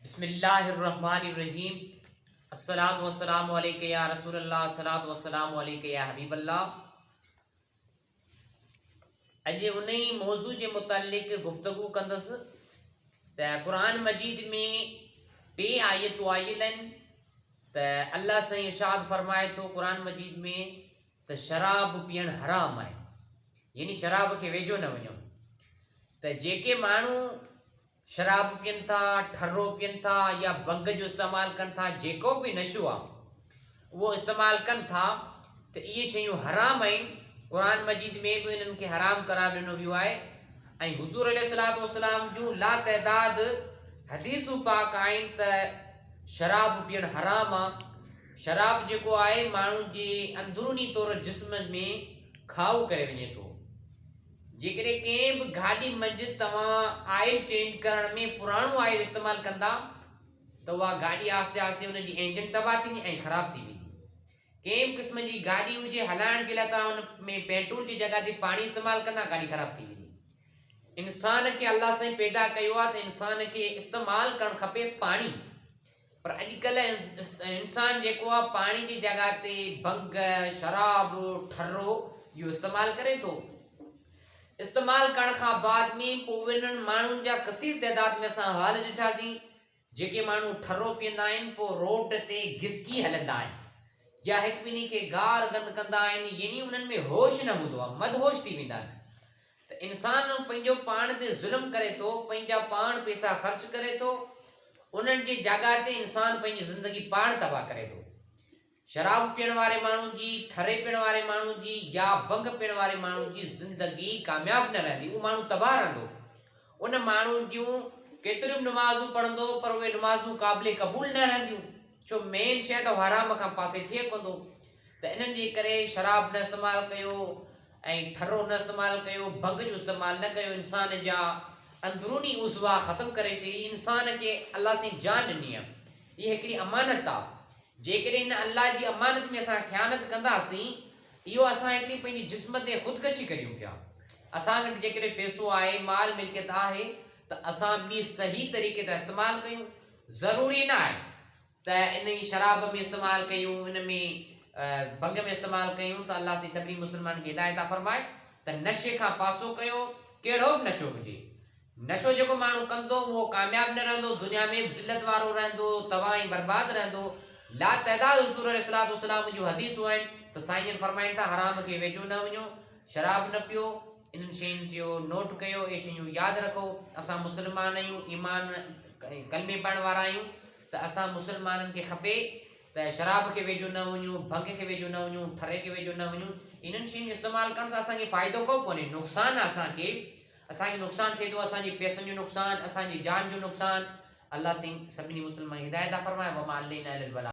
بسم الله الرحمٰن الرحيم الصلوة والسلام عليك يا رسول الله الصلوة والسلام عليك يا حبيب الله اڄ ان ئي موضوع جي متعلق گفتگو ڪندس ته قرآن مجيد ۾ ٽي آيتون آيل آهن ته الله سائين ارشاد فرمائي ٿو قرآن مجيد ۾ ته شراب پيئڻ حرام آهي يعني شراب کي ويجهو نه وڃو ته جيڪي ماڻهو شراب پين ٿا، ٺرو پين ٿا يا ڀنگ جو استعمال ڪن ٿا جيڪو به نشو آ اهو استعمال ڪن ٿا ته اهي شيون حرام آهن قرآن مجيد ۾ به انهن کي حرام قرار ڏنو ويو آهي ۽ حضور عليه الصلاة والسلام جون لا تعداد حديثون پاڪ آهن ته شراب پيئڻ حرام آ شراب جيڪو آهي ماڻهو جي اندروني طور جسم ۾ کاهو ڪري وڃي ٿو جيڪڏهن ڪنهن به گاڏي منجهه توهان آئل چينج ڪرڻ ۾ پراڻو آئل استعمال ڪندا ته اها گاڏي آهستي آهستي ان جي انجن تباهه ٿيندي ۽ خراب ٿي ويندي ڪنهن به قسم جي گاڏي هجي هلائڻ جي لاء توهان ان ۾ پيٽرول جي جڳهه تي پاڻي استعمال ڪندا گاڏي خراب ٿي ويندي انسان کي الله سائين پيدا ڪيو آهي ته انسان کي استعمال ڪرڻ کپي پاڻي پر اڄڪلهه انسان جيڪو آهي پاڻي جي جڳهه تي ڀنگ، شراب، ٺرو جو استعمال ڪري ٿو. استعمال ڪرڻ کان بعد ۾ پوء انهن ماڻهن جا ڪثير تعداد ۾ اسان حال ڏٺاسين جيڪي ماڻهو ٺرو پيئندا آهن پوء روڊ تي گسڪي هلندا آهن يا هڪٻنهي کي گار گند ڪندا آهن يعني انهن ۾ هوش نه هوندو آهي مدهوش ٿي ويندا آهن. ته انسان پنهنجو پاڻ تي ظلم ڪري ٿو، پنهنجا پاڻ پيسا خرچ ڪري ٿو، انهن جي جاڳاء تي انسان پنهنجي زندگي پاڻ تباهه ڪري ٿو. شراب پيئڻ واري ماڻهو جي، ٺري پيئڻ واري ماڻهو جي يا ڀنگ پيئڻ واري ماڻهو جي زندگي ڪامياب نه رهندي، اهو ماڻهو تباهه رهندو. ان ماڻهو جون ڪيتريون به نمازون پڙهندو پر اهي نمازون قابل قبول نه رهنديون. ڇو مين شيء ته حرام کان پاسي ٿئي ڪوندو ته انهن جي ڪري شراب نه استعمال ڪيو ۽ ٺرو نه استعمال ڪيو ڀنگ جو استعمال نه ڪيو انسان جا اندروني عضوا ختم ڪري ڇڏي هي انسان کي الله سائين جان ڏني آ اها هڪڙي امانت آ جيڪڏهن هن الله جي امانت ۾ اسان خيانت ڪنداسين اهو اسان هڪڙي پنهنجي جسم تي خودڪشي ڪريون پيا اسان وٽ جيڪڏهن پيسو آهي مال ملڪيت آهي ته اسان ٻي صحيح طريقي تان استعمال ڪيون ضروري نه آهي ته ان ئي شراب ۾ استعمال ڪيون ان ۾ ڀنگ ۾ استعمال ڪيون ته الله سائين سڀني مسلمانن کي هدايت عطا فرمائي ته نشي کان پاسو ڪيو ڪهڙو به نشو هجي نشو جيڪو ماڻهو ڪندو اهو ڪامياب نه رهندو دنيا ۾ به ذلت وارو رهندو تباهه ۽ برباد رهندو لا تعداد حضور عليه الصلوات والسلام جون حديثون آهن ته سائين جن فرمائن ٿا حرام کي ويجهو نه وڃو شراب نه پيو انهن شين جو نوٽ ڪيو اهي شيون ياد رکو اسان مسلمان آهيون ايمان ڪلمي پڙهڻ وارا آهيون ته اسان مسلمانن کي کپي ته شراب کي ويجهو نه وڃون ڀنگ کي ويجهو نه وڃون ٺري کي ويجهو نه وڃون انهن شين جو استعمال ڪرڻ سان اسانکي فائدو ڪو ڪونهي نقصان آهي اسانکي اسانکي نقصان ٿئي ٿو اسانجي پيسن جو نقصان اسانجي جان جو نقصان الله سين سڀني مسلمان هدايت فرمائي وما علينا الا البلاغ